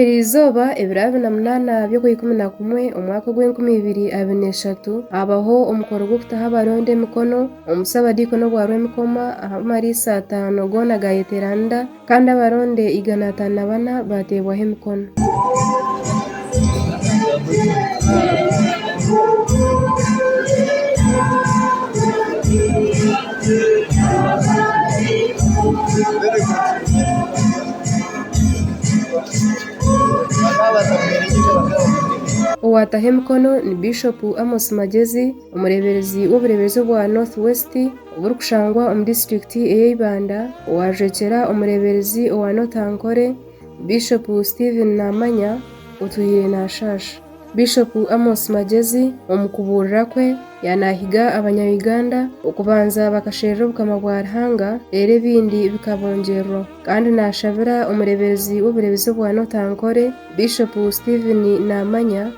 Eri izooba ebiro abiri na munaana by'okwa ikumi na kumwe omu mwaka ogw'enkumi ibiri abiri na eshatu, haabaho omukoro gw'okutaho abaronda emikono omu busabadiikoni obwa Rwemikoma aha mariisa ataano goona gaayeteeranira kandi abaronda igana ataano na bana baateebwaho emikono. Owataho emikono ni Bishopu Amos Magyezi, omureeberezi w'obureeberezi obwa North West oburikushangwa omu disiturikiti ey'e Ibanda, owaajwekyera omureeberezi owa North Ankole, Bishopu Stephen Namanya otwire nashaasha. Bishopu Amos Magyezi omu kubuurira kwe yanahiga abanya Uganda okubanza bakasherura obukama bwa Ruhanga reero ebindi bikabongyerwaho. Kandi nashabira omureeberezi w'obureebezi obwa North Ankole Bishopu Stephen Namanya,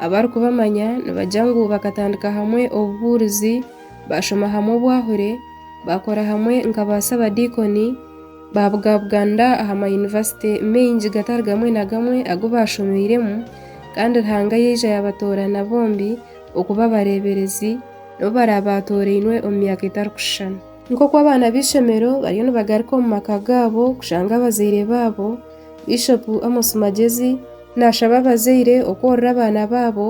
Abarikubamanya nibagira ngu bakatandika hamwe obubuurizi, baashoma hamwe obwahure, baakora hamwe nka baasabadiikoni, baabugabuganira aha mayunivasite maingi gatari gamwe na gamwe agu baashomeiremu, kandi Ruhanga yaija yaabatoorana bombi okuba abareeberezi n'obu baraabe baatorainwe omu myaka etarikushushana. Nk'oku abaana b'eishomero bariyo nibagaruka omu maka gaabo kushanga abazaire baabo, Bishopu Amos Magyezi, Naashaba abazaire okworora abaana baabo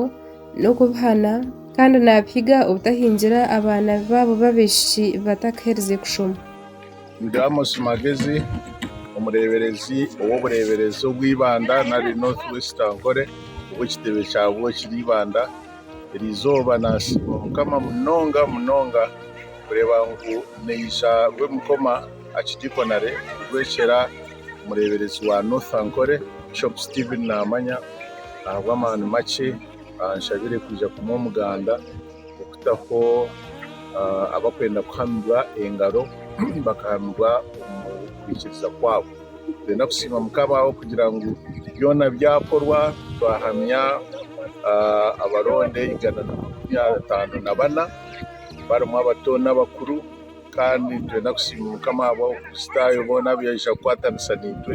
n'okubihana kandi naabihiga obutahingira abaana baabo b'abaishiki batakaherize kushoma. Ndi Amos Magezi, omureeberezi ow'obureeberezi obwa Ibanda nari North West Ankole, obu ekitebe kyabwo kiri Ibanda. Eri izooba naasiima Mukama munonga munonga kureeba ngu naija Rwemukoma Archdeaconry kurwekyera. omureeberezi wa North Ankole Bishop Stephen Namanya ahabw'amaani makye anshabire kwija kumuha omuganda okutaho abarikwenda kuhamirwa engaro bakahamirwa omu kwikiriza kwabo. Nitwenda kusiima Mukama ahabw'okugira ngu byona byakorwa twahamya abaronda igana na makumi ataano na bana barimu abato n'abakuru. Kandi nitwenda kusiima Omukama ahabw'Abakristaayo boona abu yaija kukwatanisa naitwe,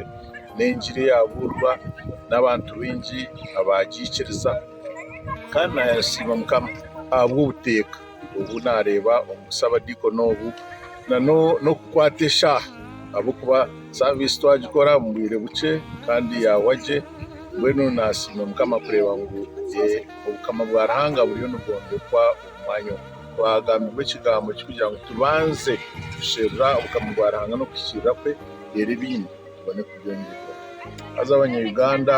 n'Engiri eyaabuurwa, n'abantu baingi abaagiikiriza. Kandi naasiima Omukama ahabw'obuteeka obu naareeba omu busabadiikoni obu, na n'okukwata eshaaha, ahabw'okuba saaviisi twagikora omu bwire bukye kandi yaahwa gye. Mbwenu naasiima Omukama kureeba ngu Obukama bwa Ruhanga buriyo nibwombekwa omu mwanya omu. Twagambibwa ekigambo kirikugira ngu tubanze kusherura Obukama bwa Ruhanga n'okuhikiirira kwe reero ebindi tubone kubyongyerwaho. Haza Abanya-Uganda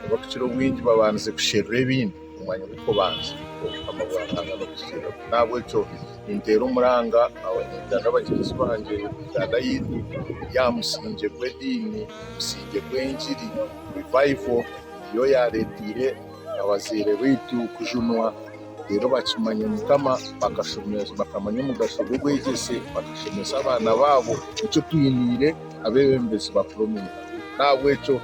abu tukira obwingi babandize kusherura ebindi omu mwanya gw'okubanza Obukama bwa Ruhanga n'okuhikiirira kwe. N'ahabw'ekyo ninteera omuranga Abanya-Uganda bagyenzi bangye Uganda yaitu eri aha musingye gw'ediini, omusingye gw'engiri, revival niyo yaareeteire. abazaire baitu kujunwa reero bakimanya omukama bakashomesa bakamanya omugasho gw'obwegyese bakashomesa abaana baabo nikyo twiniire abeebembezi bakuru omu maka n'ahabw'ekyo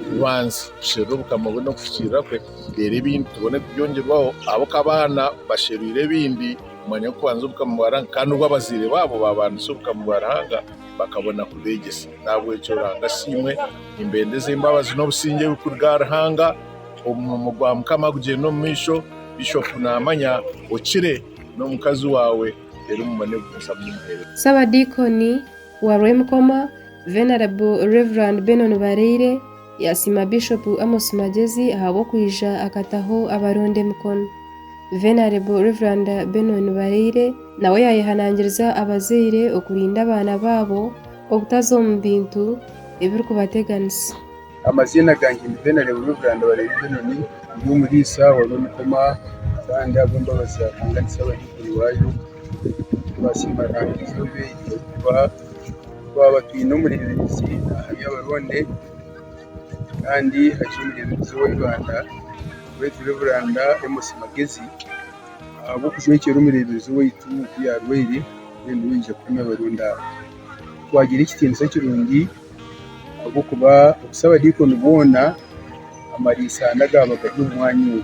tubanze tusherure obukama bwe n'okufukiirira kwe reero ebindi tubone kubyongyerwaho ahabu ku abaana basherwire ebindi kumanya kubanza obukama bwa Ruhanga kandi obu abazaire baabo baabaanisa obukama bwa Ruhanga bakabona kubeegyesa n'ahabw'ekyo Ruhanga asiimwe nimbendeza embabazi n'obusingye ebirikuruga aha Ruhanga Omurimo gwa mukama gugyende omu maisho bishop namanya okire nomukazi wawe rero mubone kugumizamu nimuhereza. Ssabadiikoni wa Rwemukoma, Venerable Rev. Benon Bareire, yaasiima Bishop Amos Magyezi ahabw'okwija akataho abaronda emikono. Venerable Rev. Benon Bareire nawe yaayehanangiriza abazaire okurinda abaana baabo obutaza omu bintu ebirikubateganisa. Amaziina gangye ni Benard Rurabura nibareeta enoni ndi omuriisa wari omukoma kandi ahabw'embabazi za Ruhanga ndi Saabahaiguru waayo twasiima Ruhanga eizooba eri ahakuba twaba twine omureebezi aha by'abaronde kandi hakiri omureebezi wa Uganda owaitu Reverand Amos Magezi ahabw'okushwekyeera omureebezi owaitu ku yaarwaire mbwenu niwe aija kukama abaronda abo twagira ekitiinisa kirungi. ahabw'okuba obusa abadiikoni boona amariisa hane agaaba gari omu mwanya ogu,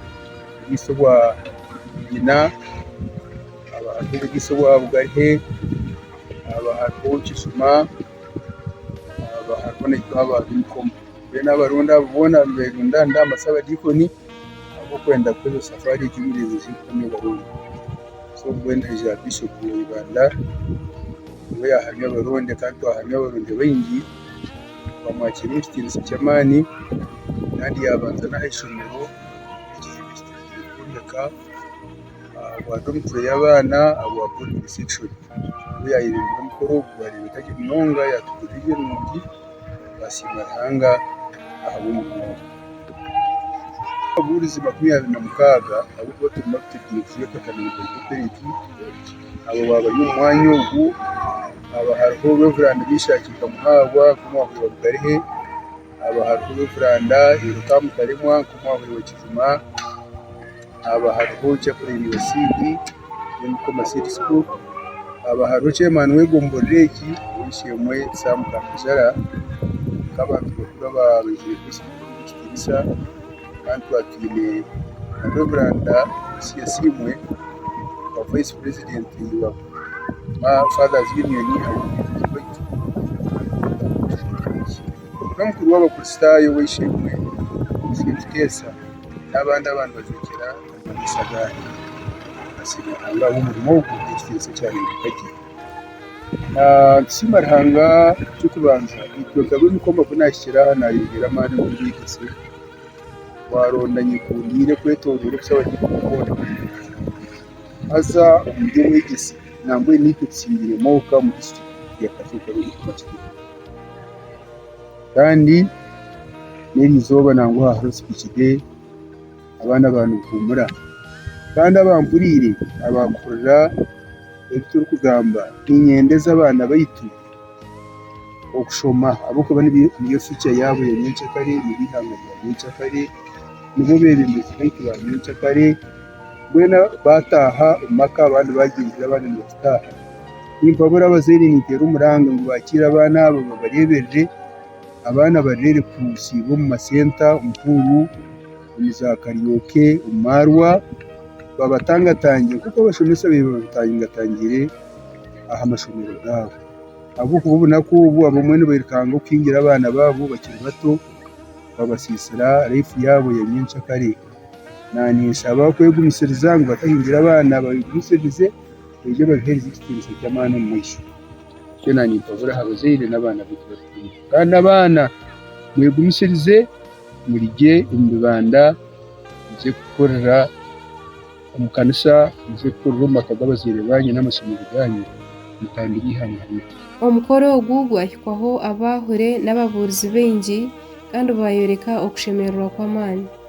oburiisa obwa nyina hakaba hariho oburiisa obwa bugahe, hakaba hariho kizima, hakaba hariho n'obwa bumikoma, mbwenu abaronda abo boona niberundana nibamanya kuba abadiikoni. ahabw'okwenda kukoresa safaari egi y'omurinzi John Obarundi. So mbwenu haihi aha Bishop wa Uganda niwe yaahamya Obarundi kandi twahamya Abarundi baingi twamwakiira omu kitiinisa ky'amaani kandi yaabanza n'aha ishomero kwombeka aha bwa domitori y'abaana aha bwa boodingi sekishoni. Niwe yaayebembire omukoro ogu gwareebeka gye munonga yaatuguririra ebirungi. Twasiima Ruhanga ahabw'omuringo. Ababuurizi makumi abiri na mukaaga abu tuba turimu ab'ekigero kimwe kwonka abo baaba bari omu mwanya ogu haba hariho Rev Meshack Kamuhahwa nk'omwaahuri wa Budarehe, haba hariho Rev Erica Mutaremwa nk'omwaahuri wa Kijuma. haaba hariho ekyokureeba iyo CD Mukoma Seed School, haaba hariho chairman w'ego mborera egi ow'eishe-emwe Sam Karujara, nk'abantu bakuru ababaire nikitinisa kandi twaba twine na Rev. Lucia Asiimwe nka vice president wa Fathers Union Abeebembezi baitu, n'omukuru w'abakristaayo ow'eishe-emwe St. Teresa. N'abandi aba nibajwekyera amakanisa agandi nibasiima Ruhanga ahabw'omurimo ogu n'ekitiinisa eki areebeka gye. Nitusiima Ruhanga eky'okubanza itwe nka ab'emikoma ku naahikire aha naayongyera amaani omu bwegyese. Waaronda nyekundiire kwetoroora obusaho buri omu koona haza omu by'obwegyese nambwenu itwe tusiingire omwoka omu disiturikiti ya Katwe. Kandi n'eri izooba nangwa hariho ozikugire abaana baawe nibahuumura. Kandi abampuriire abakuhurira ebi turikugamba niinyenda eze abaana baitu okushoma ahabw'okuba niyo fiucha yaabo ya nyenkyakare, niryo eihanga ryabo ery'enkyakare, nibo beebembezi baitu ba nyenkyakare. boona baataaha omu maka abandi baagyendera abandi nibagitaaha. Nimpabura abazaire ninteera omuranga ngu baakiire abaana abo babareeberere. Abaana barere kusiibwa omu masenta, omu puuru, omu zaakariyoke, omu maarwa, babatangatangire nk'oku abashomesa babaire babatangatangire aha mashomero gaabo. Ahabw'okuba obunaku obu abamwe nibaikanga okuhingira abaana baabo bakiri bato, babasiisira laifu yaabo ya nyenkyakare. Ninshaba kwegumisiriza ngu batahindura abaana babagumisirize baije babiheereze ekitiinisa ky'amaani omu maisho. Nikyo naanimpabura aha bazaire n'abaana baitu bataine. Kandi abaana mwegumisirize muri gye omu bibanda, muze kukorera omu kanisa, muze kukorera omu maka g'abazaire baanyu n'amashomero gaanyu, mutambire eihanga ryaitu. Omukoro ogu gwahikwaho abaahure n'ababuurizi baingi kandi baayoreka okushemererwa kw'amaani.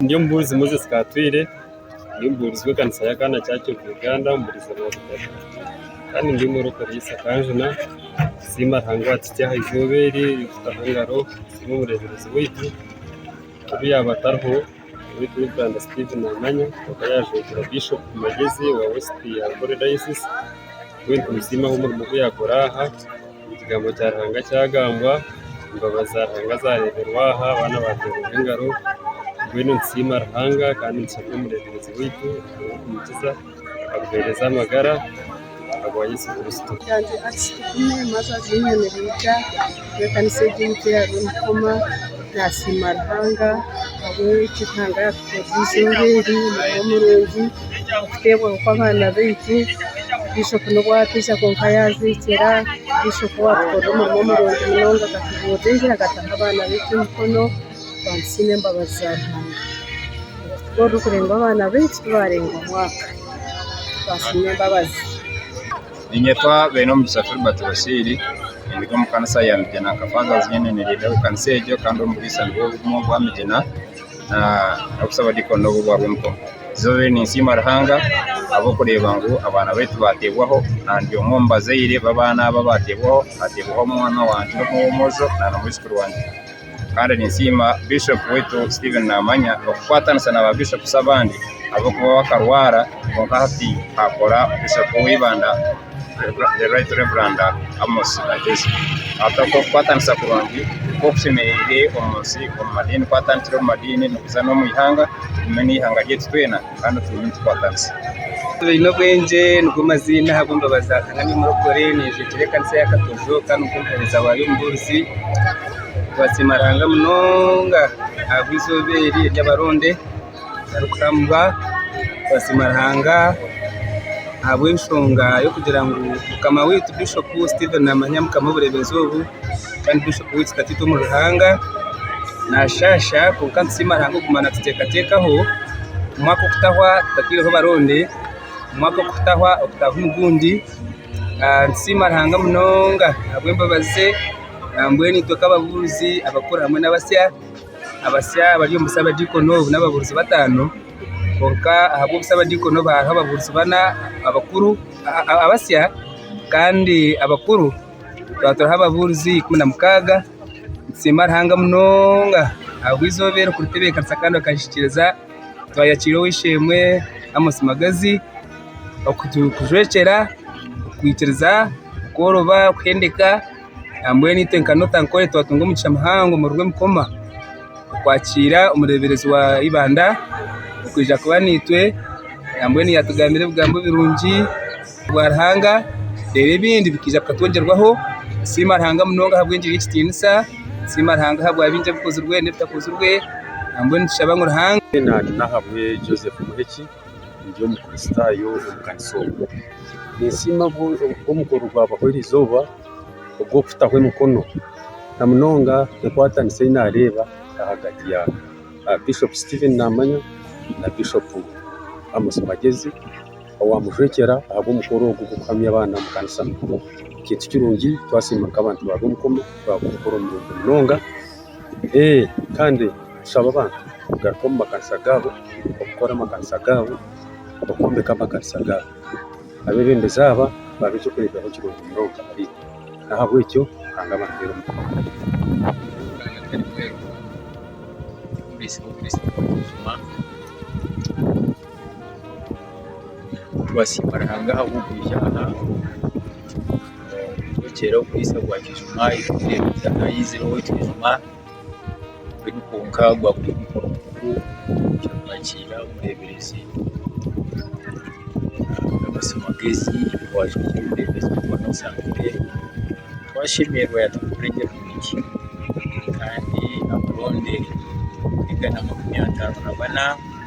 Ndi omubuurizi Moses Katwiire, ndi omubuurizi w'ekanisa ya Kaana Church of Uganda omu buriizo bwa Butare. Kandi ndi omwe orikukora omuri East Kanjuna. Nsiima Ruhanga owaatuhikire aha izooba eri, owaatutaho engaro, nsiima omureeberezi waitu, obu yaaba atariho, Nyowe Cleveland Steve naamanya kwonka yaajwekyera Bishop Magezi wa Westi ya Buri Dayosizi. Nyowe nitumusima ahabw'omurimo ogu yaakora aha, ekigambo kya Ruhanga kyagambwa, embabazi za Ruhanga zaareeberwa aha, abaana baateerwa engaro. Mbwenu nitusiima Ruhanga kandi nitushaba omureeberezi waitu Ruhanga kumukiza. aguhereze amagara ahabwa Yesu Kristo. Yangye Alice Tugume maze aziine nibija n'ekanisa egi ei teyariyo nikoma nasiima Ruhanga ahabw'eki Ruhanga yatukorerize enjweri egi omurimo murungi okuteebwaho kw'abaana baitu bishop n'obu atija kwonka yazeekyera bishop watukorera omurimo murungi munonga akatubuurira enjweri akataho abaana baitu emikono. Abantu twine embabazi za Ruhanga ahabw'okuba orikurenga abaana baitu twarenga omwaka twasiima embabazi. Ninyetwa Beinomugisha Filbert Bashiri ndi omu kanisa ya Migina nka Fathers Union leader omu kanisa egyo kandi omubwisa nibwo bumwe obwa Migina na n'obusaba Deacon nobwo bwa Bumbowa. Izooba eri ninsiima Ruhanga ahabw'okureeba ngu abaana baitu bateebwaho na ndi omwe omu bazaire b'abaana abo abateebwaho, hateebwaho omwana wangye omwe ow'omwojo na na mwizukuru wangye. kandi ninsiima bishop waitu Steven Namanya okukwatanisa na ba bishops abandi ahabw'okuba we akarwara kwonka hati akora bishop w'eibanda the right reverend Amos Kagezi hati oku okukwatanisa kurungi nikwo kushemereire omu nsi omu madiini ku atandikire omu madiini nikuza n'omu ihanga n'eihanga ryaitu twena. kandi otume nitukwatanisa twine obwengye nigo maziina ahabw'embabazi za Nyankanga omurokore ninjwekyera ekanisa ya Katojo kandi nikwo omuhereza waayo omubuurizi twasiima Ruhanga munonga ahabw'eizooba eri ery'abaronde barikuhambwa twasiima Ruhanga ahabw'enshonga y'okugira ngu mukama waitu Bishop Stephen Namanya Mukama obureebezi obu kandi Bishop waitu katwite omu Ruhanga nashaasha kwonka nitusiima Ruhanga okuguma natuteekateekaho omwaka okutahwa tatwireho baronde omwaka okutahwa okutaaha omu gundi nitusiima Ruhanga munonga ahabw'embabazi ze nambwenu itwe nk'ababuurizi abakuru hamwe n'abasya abasya abari omu busabadiikono obu n'ababuurizi bataano kwonka ahabw'obusabadiikono obu hariho ababuurizi bana abakuru abasya kandi abakuru Tukaba turi ababuurizi ikumi na mukaaga, nitusiima Ruhanga munonga ahabw'eizooba eri kuritebeekanisa kandi akahikiriza twayakiira ow'eishe-emwe Amos Magazi okutujwekyera, okuhikiriza kworobya okuhendeka aha mbwenu itwe nka Notankore twatunga omugisha muhango omu Rurimi Koma okwakiira omureeberezi wa Ibanda okwija kuba naitwe nambwenu yaatugambira ebigambo birungi bwa Ruhanga reero ebindi bikaija bikatwogyerwaho tusiima Ruhanga munonga ahabw'engira y'ekitiinisa tusiima Ruhanga ahabwa bingi ebikozirwe n'ebitakozirwe mbwenu nitushaba ngu Ruhanga Nahabwe Joseph Muheki ndi omukristaayo omu kanisa omu ninsiima omukoro ogwabaho eri izooba ogw'okutaho emikono na munonga enkwatanisa ei naareeba ahagati ya Bishop Stephen Namanya na Bishop Amos Magyezi owaamushwekyera ahabw'omukoro ogwo gw'okuhamya abaana omu kanisa. Kintu kirungi twasiima nk'abantu ba Rwomukomo ahabwa omukoro murungi munonga. Kandi tushaba abantu kugaruka omu makanisa gaabo, okukora amakanisa gaabo, okwombeka amakanisa gaabo. Abeebembezi aba baabe eky'okureeberaho kirungi munonga ahariitwe. N'ahabw'ekyo Ruhanga abampere omukisa. Twasiima Ruhanga ahabw'okuruga aha kuturekyera omwisa gwa kijuma eky'okureebeka ahaizire owaitu kijuma mbwenu kwonka gwakubaire mukuru mukuru kyakwakira omureeberezi Amos Magezi owaagyete omureeberezi w'omukwano Nsambire twashemererwa yatwongera omwegi kandi abaronde kwonka na makumi ataano na bana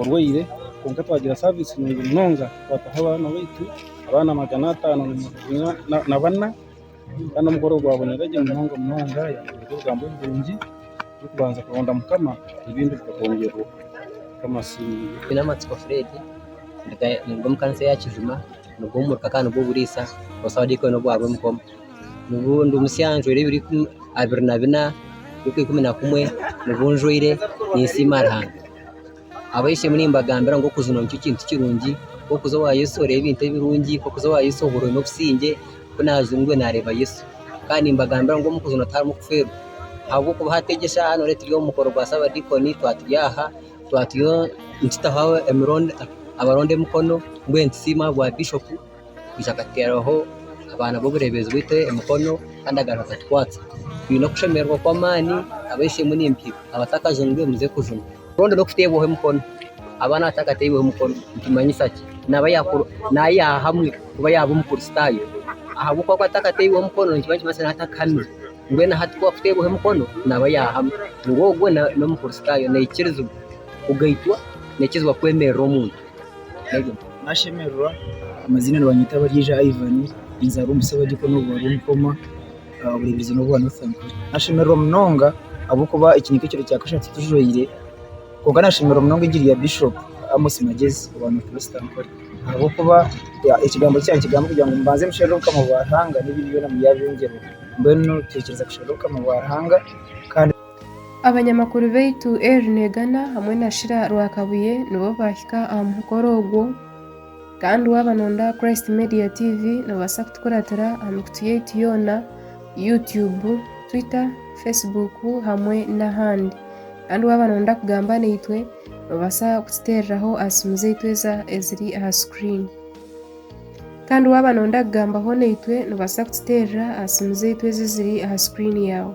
orwaire kwonka twagira saavisi nungi munonga twataho abaana baitu abaana magana ataano na bana kandi omukoro gwabonera gye munonga munonga yaahabwa ebigambo ebirungi n'okubanza kuronda mukama ebindi bikagongyerwa mukama asiimwe Twinamatsiko Fred niga omu kanisa eya Kijuma niga omurika kandi niga oburiisa obusaho diikoni obwa Rwemigomo. Nibumusya njwera ebiro ikumi abiri na bina ruka ikumi na kumwe nibu njwaire ninsiima Ruhanga. Abaishemu nimbagambira ngu okuzina nikyo kintu kirungi nk'okuza owa Yesu oreebe ebintu ebirungi nk'okuza owa Yesu ohurwe n'obusingye ku naaza engwe naareeba Yesu. Kandi nimbagambira ngu omu kuzina tiharimu kufeerwa ahabw'okuba hati egi eshaaha noreeba turi omu mukoro gwa Saabadiikoni twaturi aha twaturiyo nitutaho emirundi abaronda emikono mbwenu nitusiima aha bwa Bishopu. kwija akateeraho abaana b'obureebezi bwaitu emikono kandi agaruka akatukwatsa. Twine okushemererwa kw'amaani abaitsiremu n'empiro abatakajunire muze kujuna. Rundi n'okuteebwaho emikono. Abaana abatakateirweho mukono nikimanyisa ki? Naaba yaakura naaye yaahamwe kuba yaaba Omukristaayo. Ahabw'okuba akuba atakateirweho mukono nikiba nikimanyisa ngu atakahamire. Mbwenu hati ku akuteerweho mukono naaba yaahamwe. Ngu ogwo n'Omukristaayo. Naikirizibwa kugaitwa, naikirizibwa kwemerera omuntu. Nashemererwa amazina nibanyeta Baryeija Ivan ninzaarwa omu busi obwa Dikoni obwa Rwonkoma aha buremeezi nobwa Northern nashemererwa munonga ahabw'okuba eki nikyo kiro kya kashatu tujwaire kwonka nashemererwa munonga engiri ya Bishop Amos Magyezi owa North Western ahabw'okuba ekigambo eki yaakigamba kugira ngu mubanze musherure Obukama bwa Ruhanga n'ebindi byona mubyabyongyerwa mbwenu twikiriza kusherura Obukama bwa Ruhanga kandi Abanyamakuru baitu Erin Egana hamwe na Shira Rwakabuye nibo baahika aha mukoro ogwo kandi waaba noonda aha Christ Media TV noobaasa kutukuratira aha mikutu yaitu yoona, YouTube, Twitter, Facebook hamwe n'ahandi. Kandi waaba noonda kugamba naitwe noobaasa kututeereraho aha siimu zaitu eziri aha sikuriini. Kandi waaba noonda kugambaho naitwe noobaasa kututeerera aha siimu zaitu eziri aha sikuriini yaawe.